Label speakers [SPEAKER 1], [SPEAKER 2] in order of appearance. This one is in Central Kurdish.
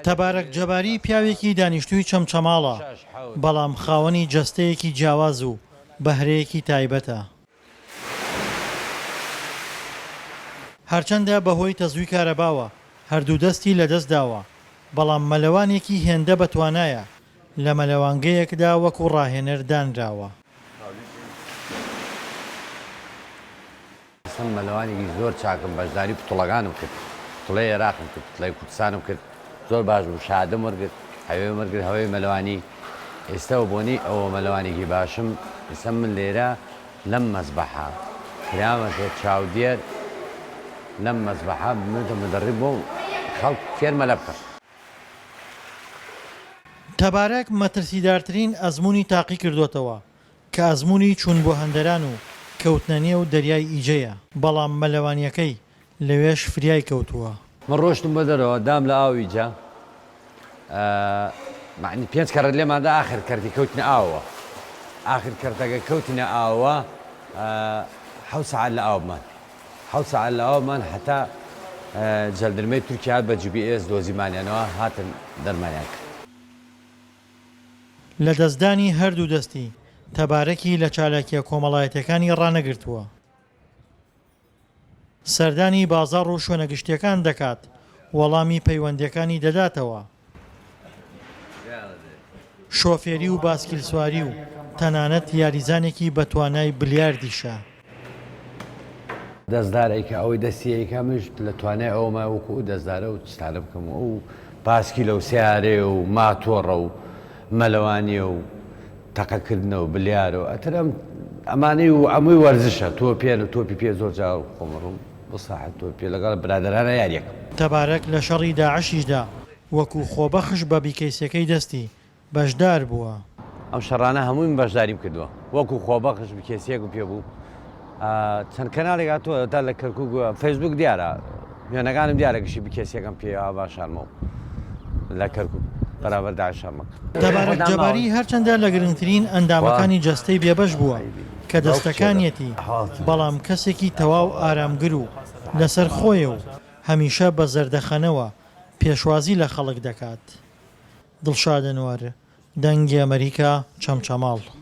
[SPEAKER 1] تەبارەک جەباری پیاوێکی دانیشتووی چەمچەماڵە، بەڵام خاوەنی جەستەیەکی جیاواز و بەهرەیەکی تایبەتە. هەرچەندە بەهۆی تەزووی کارەباوە هەردوو دەستی لەدەست داوە، بەڵام مەلەوانێکی هێندە بەتوانایە، لە مەلەوانگەیەکدا وەکو ڕاهێنەر دانراوە.
[SPEAKER 2] سم مەلەوانێکی زۆر چاکم بەژداری پتڵەکانم کرد پتڵەی ئێراقم کرد پتڵەی کوردستانم کرد زۆر باش بوو شادم وەرگرت هەوێم وەرگرت هەوێی مەلەوانی ئێستا و بۆنی ئەوە مەلەوانێکی باشم ئیسە من لێرە لەم مەزبەحە کرامەتە چاودێر لەم مەزبەحە بمێتە مدەڕی بۆ خەڵک فێر مەلە بکەم.
[SPEAKER 1] تەبارەک مەترسیدارترین ئەزموونی تاقی کردۆتەوە کە ئەزموونی چوون بۆ هەندەران و کەوتنە نێو دەریای ئیجەیە، بەڵام مەلەوانییەکەی لەوێش فریای کەوتووە. من ڕۆشتم بۆ
[SPEAKER 2] دەرەوە دام لە ئاو ئیجە مەعنی پێنج کەرت لێمان دا ئاخر کەرتی کەوتنە ئاوەوە ئاخر کەرتەگە کەوتینە ئاوەوە حەوت سەعات لە ئاو بمان حەوت سەعات لە ئاو بمان هەتا جەندرمەی تورکیا هات بە جی بی ئێس دۆزیمانیانەوە هاتن دەرمانیان کرد.
[SPEAKER 1] لەدەستدانی هەردوو دەستی تەبارەکی لە چالاکیە کۆمەڵایەتیەکانی ڕانەگرتووە، سەردانی بازاڕ و شوێنە گشتیەکان دەکات، وەڵامی پەیوەندیەکانی دەداتەوە، شۆفێری و باسکیلسواری و تەنانەت یاریزانێکی بەتوانای بلیاردیشە.
[SPEAKER 2] دەستدار ئەیکا ئەوەی دەستی ئەیکا منش لە توانای ئەوەمە وەکو ئەو دەستدارە و چتانە بکەم و ئەو پاسکیلە و سەیارەیە و ماتۆڕە و مەلەوانییە و تەقەکردنە و بلیارە و ئەتر ئەم ئەمانەی و ئەمووی وەرزشە تۆپێن و تۆپی پێ زۆر جار خۆم ئەڕۆم بۆ ساحەی تۆپێ لەگەڵ برادەرانە یارییەکەم. تەبارەک لە شەڕی
[SPEAKER 1] داعشیشدا وەکو خۆبەخش بە بیکەیسەکەی دەستی بەشدار بووە. ئەم شەڕانە
[SPEAKER 2] هەمووی من بەشداریم کردووە وەکو خۆبەخش بکێسیەکم پێ بوو چەند کەناڵێک هاتووە تا لە کەرکوک فەیسبوک دیارە وێنەکانم دیارە گشی بکێسیەکەم پێ ئاوا شارمە و لە کەرکوک بەرابەر داعش شەڕمە کرد. تەبارەک جەباری
[SPEAKER 1] هەرچەندە لە گرنگترین ئەندامەکانی جەستەی بێبەش بووە کە دەستەکانیەتی بەڵام کەسێکی تەواو ئارامگر و لەسەر خۆیە و هەمیشە بە زەردەخەنەوە پێشوازی لە خەڵک دەکات. دڵشاد ئەنوەر، دەنگی ئەمەریکا، چەمچەماڵ.